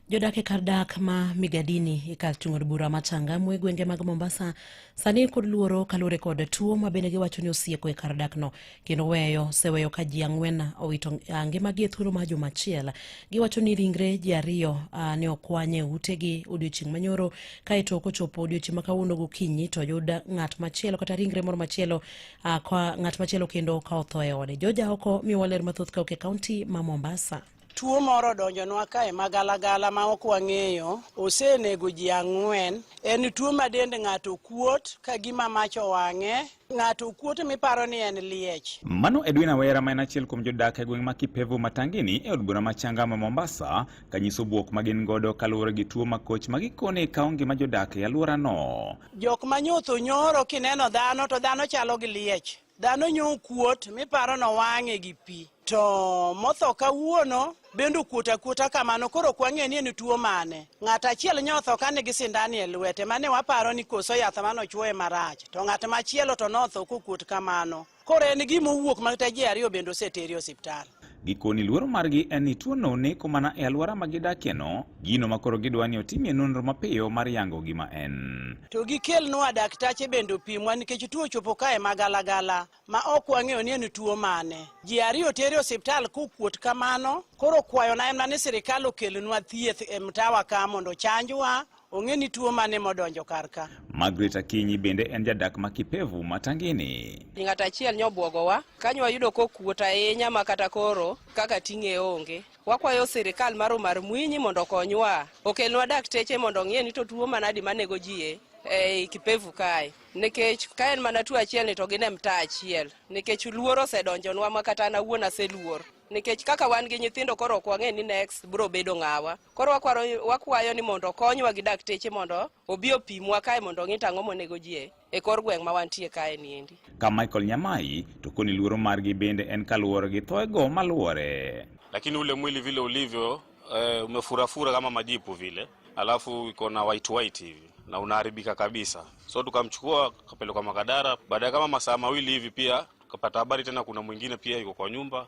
Jodak e kar dak ma Migadini e kar chung' od bura ma Changamwe e gwenge mag Mombasa sani kod luoro kaluwore kod tuo ma bende giwacho ni osieko e kar dakno kendo weyo seweyo ka ji ang'wen owito ah, ngimagi e thuolo mar juma achiel. Giwacho ni ringre ji ariyo ah, ne okwanye utegi odiochieng' manyoro kaeto kochopo odiochieng' ma kawuono gokinyi to yud ng'at machielo kata ringre moro machielo Uh, kwa ng'at machielo kendo ka otho e ode. Joja oko miwa ler mathoth ka oke kaunti ma Mombasa. Tuo moro donjonwa kae magalagala ma ok wang'eyo, osenego ji ang'wen. En tuo ma dend ng'ato kuot ka gima mach owang'e, ng'ato kuot miparo ni en liech. Mano Edwin Awera ma en achiel kuom jodak e gweng' ma Kipevu Matangini e od bura ma Changama Mombasa kanyiso bwok ma gin godo kaluwore gi tuo makoch ma gikone kawo ngima jodak e alworano. Jok ma nyutho nyoro kineno dhano to dhano chalo gi liech. Dhano nyo kuot miparo no wang'e gi pi. To motho kawuono bende okuot akuota kamano koro ok wang'e ni en tuo mane. Ng'at achiel nyotho ka nigi sindani e lwete mane waparo ni koso yath mane ochuoye marach. To ng'at machielo to notho kokuot kamano. Koro en gima owuok makata ji ariyo bende oseteri osiptal. Gikoni luoro margi en ni tuono neko mana e alwora ma gidakieno, gino ma koro gidwa ni otimie nonro mapiyo mar yango gima en. To gikelnwa daktache bende opimwa nikech tuo ochopo kae magalagala ma ok wang'eyo ni en tuo mane. Ji ariyo tere osiptal kokuot kamano, koro kwayona en ni sirikal okelnwa thieth e mtawa ka mondo ochanjwa Ong'e ni tuo mane modonjo kar ka. Margaret Akinyi bende en jadak ma Kipevu ma Tangini. Ng'at achiel nyobwogowa kanyo wayudo kokuot ahinya ma kata koro kaka ting'e onge. Wakwayo sirikal mar Omar Mwinyi mondo okonywa okelnwa dakteche mondo ong'e ni to tuo manadi manego ji e, e Kipevu kae nikech ka en mana tuo achiel ni to gin e mtaa achiel nikech luor osedonjonwa ma kata an awuon aseluor nikech kaka wan gi nyithindo koro ok wang'e ni next biro bedo ng'awa. Koro wakwaro, wakwayo ni mondo okonywa gi dakteche mondo obi opimwa kae mondo ong'i tang'o monego ji e, e kor gweng' ma wantie kae niendi. Ka Michael Nyamai to koni luoro margi bende en kaluwore gi thoego maluwore. Lakini ule mwili vile ulivyo e, umefurafura kama majipu vile, alafu iko na white white hivi na unaharibika kabisa, so tukamchukua kapelekwa Makadara. Baada ya kama masaa mawili hivi pia tukapata habari tena kuna mwingine pia yuko kwa nyumba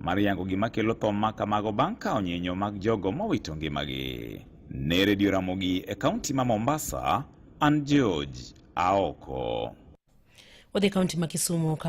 mar yango gima kelo tho ma kamago bang' kawo nyinyo mag jogo mowito ngimagi. Ne Redio Ramogi e kaunti ma Mombasa, an George Aoko. Wadhi kaunti ma Kisumu